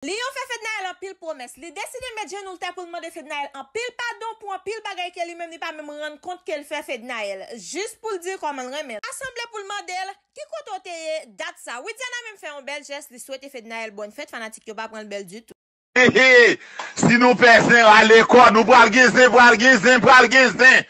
Lion fè Fednaelle anpil pwomès. Li deside met jenou l tè pou l mande Fednaelle anpil padon pou anpil bagay ke li menm li pa menm rann kont ke l fè Fednaelle. Jis pou l di kòman l renmen l. Ta sanble pou l mande l, Ki kote w te ye dat sa? Widiana menm fè yon bèl jès, li swete Fednaelle bòn fèt, fanatik yo pa pran l bèl ditou. He he, si nou pè zen rale kò nou pral gen zen pral gen zen pral gen zen.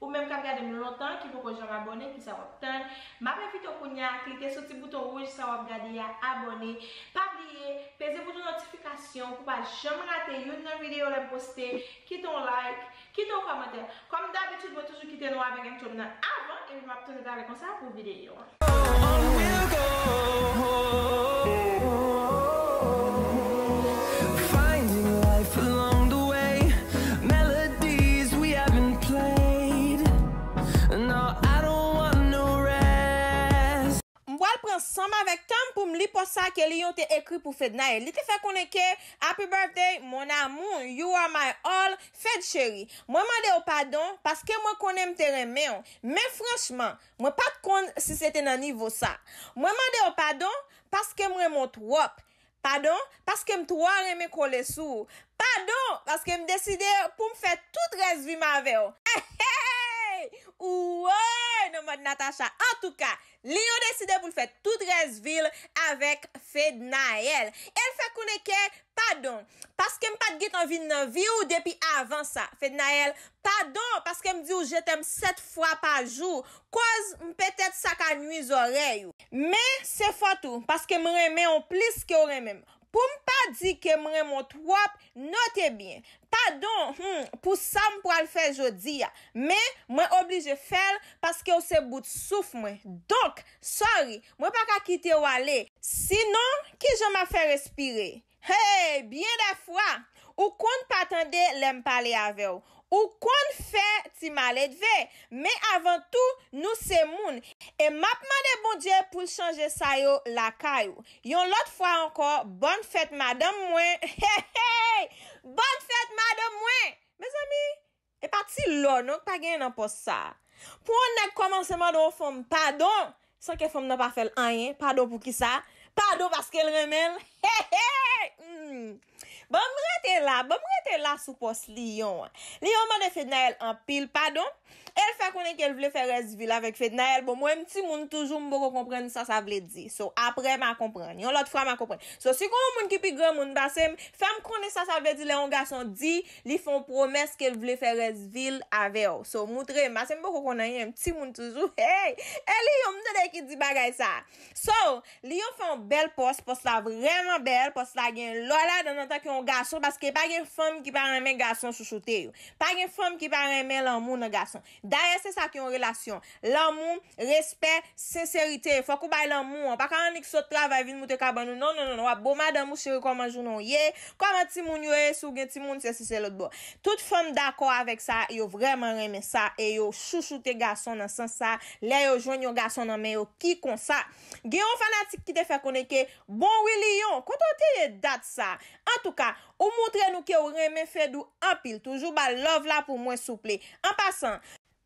Ou menm kap gade m lontan ki poko janm abòne kisa wap tann map envite w kounya klike sou ti bouton wouj sa wap gade a abòne pa bliye peze bouton notifikasyon pou pa janm rate youn nan video lèm poste kite yon like kite yon kòmantè kòm dabitid mwen toujou kite nou avèk entròm nan avan epi map tounen talè konsa pou video an. M pral pran san m avèk tan m pou m li pòs sa ke Lion te ekri pou Fednaelle. Li te fè konnen ke, Happy birthday, mon amour, you are my all, Fed cheri, mwen mande w padon paske mwen konnen m te renmen w, men franchman, Mwen pat konn si se te nan nivo sa. Mwen mande w padon paske m renmen w twòp. Padon paske m twò renmen kole sou ou. Padon paske m deside pou m fè tout rès vi m avè w. Eeyy! Ou woy nan mòd Natacha! Antouka, Lion deside pou l fè tout rès vi l avèk Fednaelle. E l fè konnen ke Padon, paske m pa t gentan vin nan vi w depi avan sa. Fednaelle, Padon, paske m di w je t'aime 7 fwa pa jou, koz m petèt sa ka nwi zòrèy ou. Men, se fòt ou, paske m renmen w plis ke w renmen m. Pou m pa di ke m renmen w twòp, note byen. Padon, hum, pou sa m pral fè jodi a. Men, mwen oblije fè l, paske w se bout souf mwen. Donk, sorry, Mwen pa ka kite w ale. Si non, ki jan m ap fè respire? Hey! Byen dè fwa! Ou konn pa tande lè m pale avè w. Ou konn fè ti maledve. Men avan tou, nou se moun. E m ap mande Bondye pou l chanje sa yo lakay ou. Yon lòt fwa ankò, bòn fèt madanm mwen. Hey! Hey! Bòn fèt madanm mwen! Mezanmi, E pa ti lò non k pa genyen nan pòs sa a. Pou yon nèg kòmanse mande yon fanm padon san ke fanm nan pa fè l anyen, padon pou kisa? Padon paske l renmen l? Heheheh! Humm! Ban m rete la, ban m rete la sou pòs Lion an. Lion mande Fednaelle anpil padon e l fè konnen ke l vle fè rès vi l avèk Fednaelle. Bon, mwen m timoun toujou, m poko konprann sa sa vle di. So, aprè ma konprann. Yon lòt fwa ma konprann. So, si gon yon moun ki pi granmoun pase m, fè m konnen sa sa vle di lè yon gason di Li fè w pwomès ke l vle fè rès vi l avè w. So, moutre m. Pase m poko konn anyen, m timoun toujou. Hey! E Lion m tande ki di bagay sa. So, Lion fè yon bèl pòs, pòs la vrèman bèl, pòs la gen lò ladan l antanke yon gason paske pa gen fanm ki pa renmen gason chouchoute yo. Pa gen fanm ki pa renmen lanmou nan gason. Dayè se sa ki yon relasyon. Lanmou, respè, senserite. Fòk ou bay lanmou an. Pa ka annik sot travay vin moute kabann ou. Non, non, non, non. W ap bo madanm ou cheri kòman jounen w ye? Kòman timoun yo ye si w gen timoun sesi selòt bon. Tout fanm dakò avèk sa, yo vrèman renmen sa e yo chouchoute gason nan sans sa lè yo jwenn yon gason nan men yo ki konsa. Gen yon fanatik ki te fè konnen ke, Bon wi Lion, kote w te ye dat sa? Antouka, Ou moutre nou kew renmen Fedou anpil toujou bal love la pou mwen souple an pasan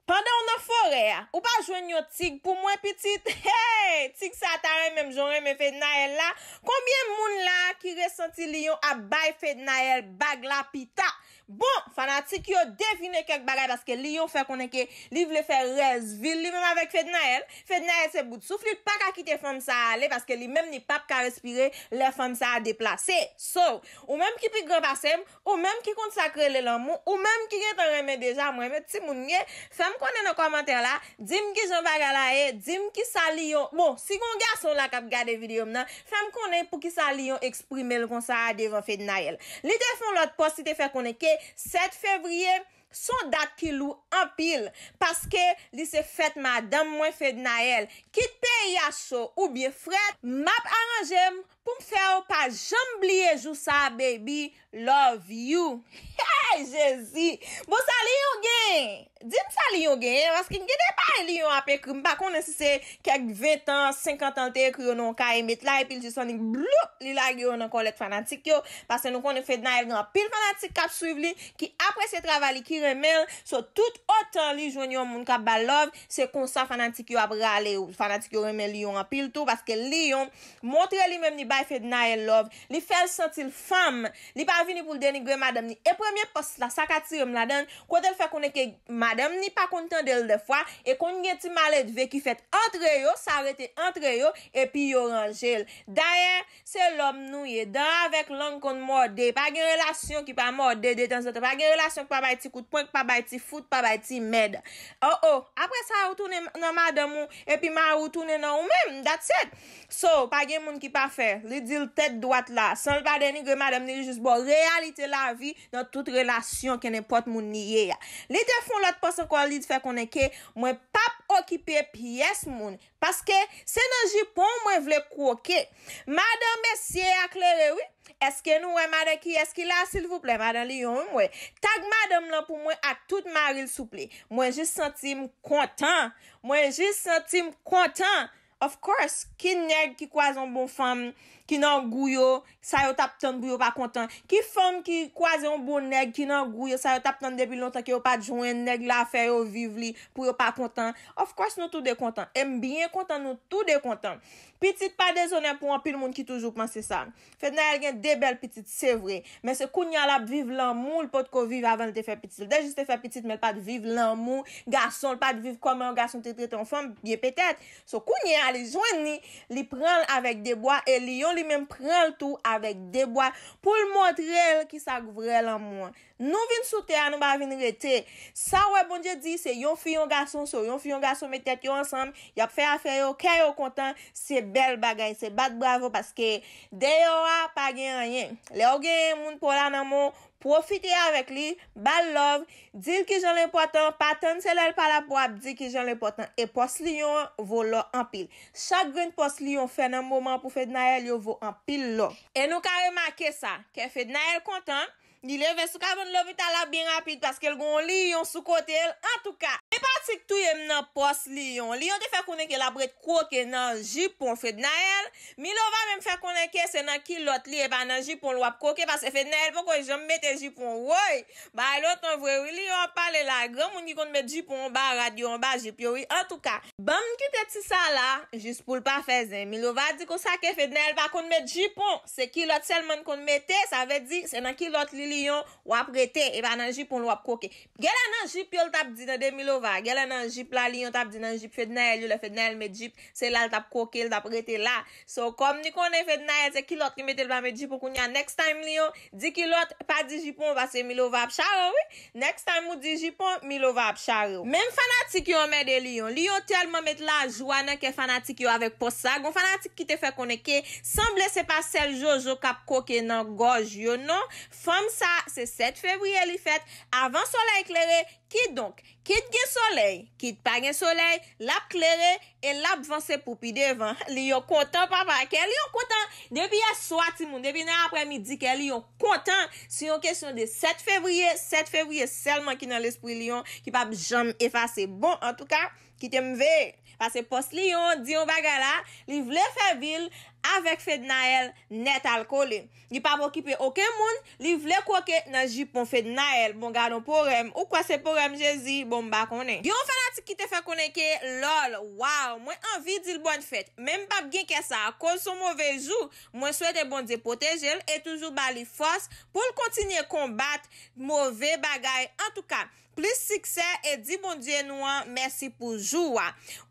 pandanw nan forè a ou pa jwenn yon tig pou mwen pitit hee tig sa ta renmenm janw renmen Fednaelle la konbyen moun la ki resanti Lion ap bay Fednaelle bag la pita bon fanatik yo devine kèk bagay paske Lion fè konnen ke li vle fè rès vil li menm avèk Fednaelle Fednaelle se bout souf li l paka kite fanm sa ale paske li menm li pap ka respire lè fanm sa deplase so ou menm ki pi gran pasem ou menm ki konn sak rele lanmou ou menm ki gentan renmen deja mwen menm timoun mye fèm konnen nan kòmantè la dim kijan bagay la ye dim kisa Lion bon si gon gason la kap gade video m nan fèm konnen poukisa Lion eksprimel konsa a devan Fednaelle li te fon lòt pòs li te fè konnen ke 7 fevrier Son dat ki lou anpil paske li se fèt madanm mwen Fednaelle. Kit peyi a cho oubyen frèt map aranjem poum fèw pa janm bliye jou sa baby love you. Hey jezi bon sa lion gen dim sa lion gen paske gen de bay lion ap ekri mpa konnen si se kèk 20 tan 50 tan l te ekri yo nan yon kaye met la epi l jis annik bloup li lage yo nan kòlèt fanatik yo paske nou konnen Fednaelle gen anpil fanatik kap swiv li ki apresye travay li ki renmenl so tout otan li jwenn yon moun kap bal love se konsa fanatik yo ap rale ou fanatik yo renmen lion anpil tou paske lion montre li menm li bay fednaelle love li fèl santil fanm li pa vini poul denigre madanm ni e premye pòs la sak atirem ladann kotel fè konnen ke madanm ni pa konn tandel dèfwa e konn gen ti maledve ki fèt antre yo sa rete antre yo epi yo ranjel dayè Se lòm nou ye. Dan avèk lang konn mòde. Pa gen relasyon ki pa mòde detanzantan. Pa gen relasyon ki pa bay ti kout pwen, ki pa bay ti fout, ki pa bay ti mèd. Oh oh! Apre sa ou tounen nan madanm ou, epi mari ou tounen nan ou menm. That's it! So, pa gen moun ki pafè. Li di l tèt dwat la. San l pa denigre madanm ni li jis ba w reyalite lavi nan tout relasyon kenenpòt moun li ye a. Li te fon lòt pòs ankò li fè konnen ke mwen pap okipe pyès moun. Paske se nan jipon w mwen vle kwoke. Madan mesye a klere wi. Eske nou wè madan kiyès ki la silvouplè madan lion wi m wè. Tag madanm lan pou mwen ak tout mari l souple. Mwen jis santi m kontan. Mwen jis santi m kontan. Of course, ki nèg ki kwaze yon bon fanm, ki nan gou yo, Sa yo tap tann pou yo pa kontan. Ki fanm ki kwaze yon bon nèg ki nan gou yo sa yo tap tann depi lontan ke yo pat jwenn nèg la fè yo viv li pou yo pa kontan of course nou tou 2 kontan em byen kontan nou tou 2 kontan pitit pa dezonè pou anpil moun ki toujou panse sa Fednaelle gen 2 bèl pitit se vre men se kounya lap viv lanmou l pot ko viv avan l te fè pitit l te jis te fè pitit men l pat viv lanmou gason l pat viv kòman yon gason te trete yon fanm byen petèt So kounye a li jwenn li, li pran l avèk de bwa e Lion li menm pran l tou avèk de bwa pou l montre l ki sa k vrè lanmou an. Nou vin sou tè a nou pa vin rete. Sa w wè Bondye di se yon fi yon gason so yon fi yon gason met tèt yo ansanm y ap fè afè yo kè yo kontan se bèl bagay se bat bravo paske deyò a pa gen anyen lè w gen moun pou w la nan men w Pwofite avèk li, ba l love, di l kijan l enpòtan, pa tann se lè l pa la pou w ap di kijan l enpòtan e pòs Lion an vo lò anpil. Chak grenn pòs Lion fè nan moman pou Fednaelle yo vo anpil lò. E nou ka remake sa, kè Fednaelle kontan, li leve sou kabann lopital la byen rapid paske l gen yon Lion sou kote l, antouka! Enpatik touye m nan pòs Lion. Lion te fè konnen ke l ap ret kwoke nan jipon Fednaelle, Milova menm fè konnen ke se nan kilòt li e pa nan jipon l wap koke paske Fednaelle poko janm mete jipon woy bagay lontan vre wi Lion ap pale la granmoun ki konn met jipon anba rad yo anba jip yo wi antouka banm kite ti sa la jis poul pa fè zen Milova di konsa ke Fednaelle pa konn met jipon se kilòt sèlman n konn mete sa vle di se nan kilòt li Lion wap rete e pa nan jipon l wap koke Gèlè nan jip yo l tap di nan Demi Lova gèlè nan jip Lali yon tap di nan jip Fednaelle yo lè Fednaelle met jip se la l tap kwoke l tap rete la so kòm li konnen Fednaelle se kilòt li mete l pa met jip ou kounya next time li yon di kilòt pa di jipon paske Milova ap chare w wi next time ou di jipon Milova ap chare w. Menm fanatik yo anmède Lion. Lion tèlman met lajwa nan kè fanatik yo avèk pòs sa, gon fanatik ki te fè konnen ke sanble se pa sèl Jojo kap kwoke nan gòj yo non, Fanm sa, se 7 fevriye li fèt, avan solèy klere, kidonk, kit gen solèy, kit pa gen solèy, l ap klere e l ap vanse pou pi devan. Li yon kontan papa, kè li yon kontan, depi yèswa timoun, depi nan aprè midi kè li yon kontan, se yon kesyon de 7 fevriye, 7 fevriye sèlman ki nan lespri Lion, ki p ap janm efase. Bon, antouka. Kite m veye. Pase pòs li yon di yon bagay la, li vle fè vi l avèk Fednaelle nètalkole. Li pa p okipe oken moun, li vle kwoke nan jipon Fednaelle. Bon gadon porèm, ou kwè se porèm Jezi, bon m pa konnen. Gen yon fanatik ki te fè konnen ke loll waww mwen anvi di l bòn fèt men m pap gen kè sa koz son move jou, mwen swete Bondye pwoteje l e toujou ba li fòs pou l kontinye konbat move bagay antouka Plis siksè e di Bondye nou an mèsi pou jou a.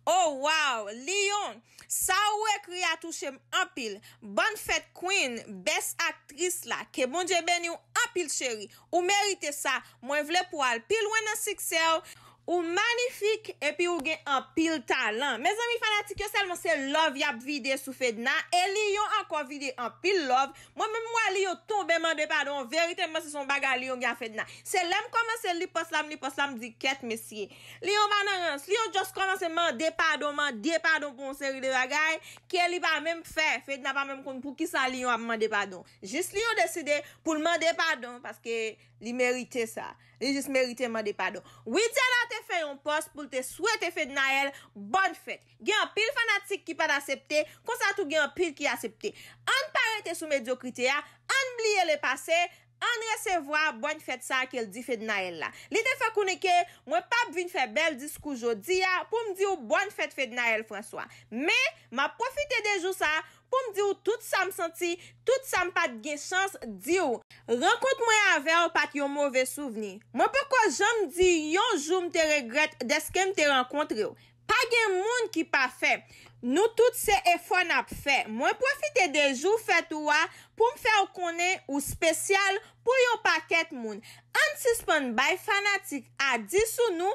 Oh waww Lion sa ou ekri a touchem anpil Bonne fête Queen best actrice la ke Bondye beniw anpil cheri ou merite sa mwen vle pou al pi lwen nan siksèw, ou manifik epi ou gen anpil talan mezanmi fanatik yo sèlman se love yap vide sou Fedna e Lion ankò vide anpil love Mwen menm mwen li yo tonbe mande padon verite mwen se son bagay li yo gen a fedna se lèm kòmanse li pòs la m li pòs la m di kèt mesye li yo pa nan rans li yo just kòmanse mande padon mande padon pou yon seri de bagay ke li pa menm k fè fedna pa menm konn poukisa li yo ap mande padon jis li yo deside poul mande padon paske li merite sa li jis merite mande padon widiana te fè yon pòs poul te swete fednaelle bòn fèt Gen anpil fanatik ki pa t asepte, konsa tou gen anpil ki asepte. Ann pa rete sou medyokrite a, ann bliye le pase, ann resevwa Bòn Fèt sa ke l di Fednaelle la. Li te fè konnen ke, Mwen p ap vin fè bèl diskou jodi a pou m di w Bòn Fèt Fednaelle François. Men, m ap pwofite de jou sa pou m di w tout sa m santi, tout sa m pa t gen chans di w. Rankont mwen avè w pa t yon move souvni. Mwen poko janm di yon jou m te regrèt dèske m te rankontre w. Pa gen moun ki pafè. Nou tout se efò n ap fè. Mwen pwofite de jou fèt ou a pou m fè w konnen ou spesyal pou yon pakèt moun. Ann sispann bay fanatik a di sou nou,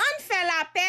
ann fè lapè,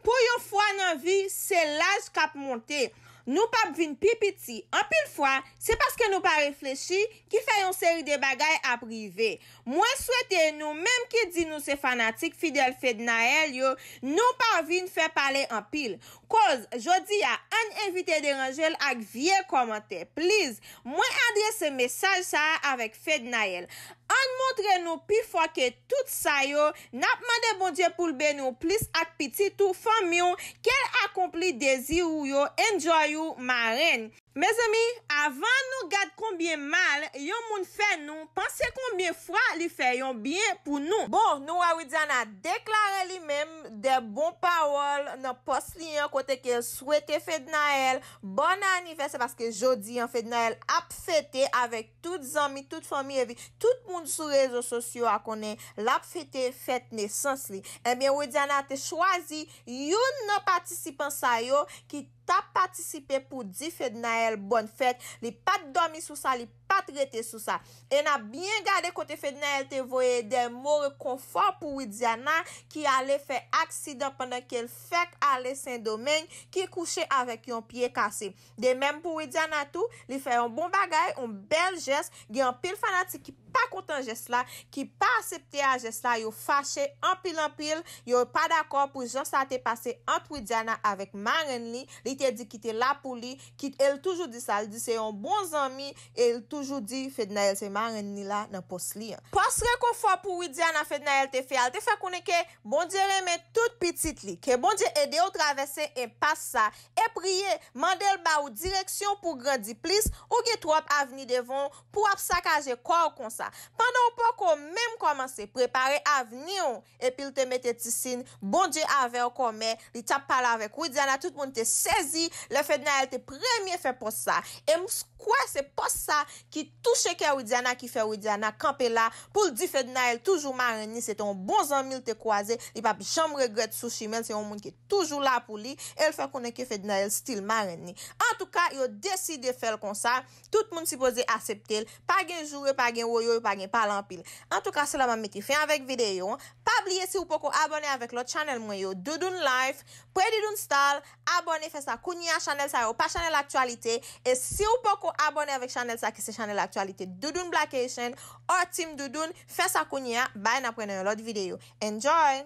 pou yon fwa nan vi se laj k ap monte, nou p ap vin pi piti. Anpil fwa, se paske nou pa reflechi ki fè yon seri de bagay ap rive. Mwen swete nou menm ki di nou se fanatik fidèl Fednaelle yo, nou pa vin fè pale anpil. Koz, jodi a, ann evite deranje l ak vye kòmantè. Pliz, mwen adrese mesaj sa a avèk Fednaelle. Ann montre nou pi fò ke tout sa yo, n ap mande Bondye pou l beni w plis ak pitit ou, fanmi w, ke l akonpli dezi ou yo, enjoy ou, marenn. Mezanmi avan nou gad konbyen mal yon moun fè nou panse konbyen fwa li fè yon byen pou nou. Bon nou wè Widiana deklare li menm dè bon pawòl nan pòs li an kote ke l swete Fednaelle bòn anivèsè paske jodi an Fednaelle ap fete avèk tout zanmi tout fanmi epi tout moun sou rezo sosyo a konnen l ap fete fèt nesans li ebyen Widiana te chwazi youn nan patisipan sa yo ki tap patisipe pou di Fednaelle bòn fèt, li pat dòmi sou sa, li pat rete sou sa. E na byen gade kote Fednaelle te voye dè mo rekonfò pou Widiana ki ale fè aksidan pandan kel fèk ale Sendomeng, ki kouche avèk yon pye kase. De mèm pou Widiana tou, li fè yon bon bagay, yon bèl jès, Gen anpil fanatik ki pa kontan jès la, ki pa asepte a jès la, yo fache anpil anpil, yo pa dakò pou jan sa te pase ant Widiana avèk marenn li, li te di ki te la pou li, ki e l toujou di sa, l di se yon bon zanmi e l toujou di Fednaelle se marenn li la nan pòs li an. Pòs rekonfò pou Widiana Fednaelle te fè a, l te fè konnen ke Bondye renmen tout pitit li, ke Bondye ede w travèse enpas sa E priye, mande l ba ou direksyon pou w grandi plis, ou gen twòp avni devan w pou w ap sakaje kò w konsa, pandan w poko menm kòmanse, prepare avni w, epi l te mete ti sin, Bondye avè w kòmè, li t ap pale avèk Widiana tout moun te sezi lè Fednaelle te premye fè pòs sa, e m kwè se pòs sa ki touche kè Widiana ki fè Widiana kanpe la pou l di Fednaelle toujou marenn li se te yon bon zanmi l te kwaze li p ap janm regrèt sou chimen l se yon moun ki toujou la pou li e l fè konnen ke Fednaelle stil marenn li antouka yo deside fè l konsa tout moun sipoze asepte l pa gen joure pa gen woyy pa gen pale anpil antouka se la map mete fen avèk videyo an pa bliye si ou poko abòne avèk lòt chanèl mwen yo Doudoune Life Predidoune Style abòne fè sa kounye a chanèl sa yo pa chanèl aktyalite e si ou poko abòne avèk chanèl sa ki se chanèl aktyalite Doudoune Blackations or Team Doudoune fè sa kounye a bay nap wè nan yon lòt videyo. Enjoy!